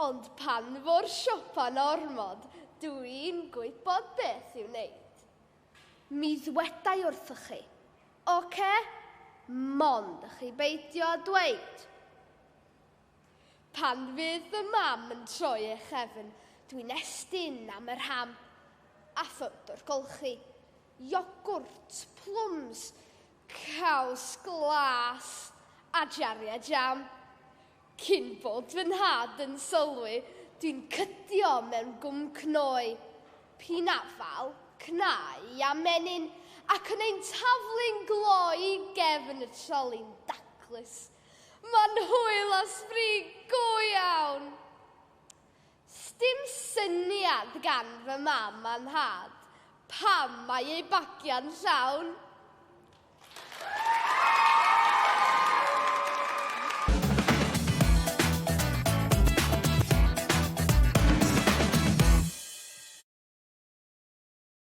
Ond pan fo'r siopa'n ormod, dw i'n gwybod beth i'w wneud. Mi ddweda i wrthoch chi, Ocê, mond i chi beidio â dweud. Pan fydd fy mam yn troi ei chefn, dw i'n estyn am yr ham, a ffwd o'r golchi. Iogwrt, plwms, caws glas a jariau jam. Cyn bod fy nhad yn sylwi, dwi'n cydio mewn gwm cnoi, p'un afal, cnau a menyn, ac yn ein taflu'n gloi i gefn y troli'n daclus. Mae'n hwyl a sbri go iawn! Sdim syniad gan fy mam a nhad pam mae eu bagiau'n llawn!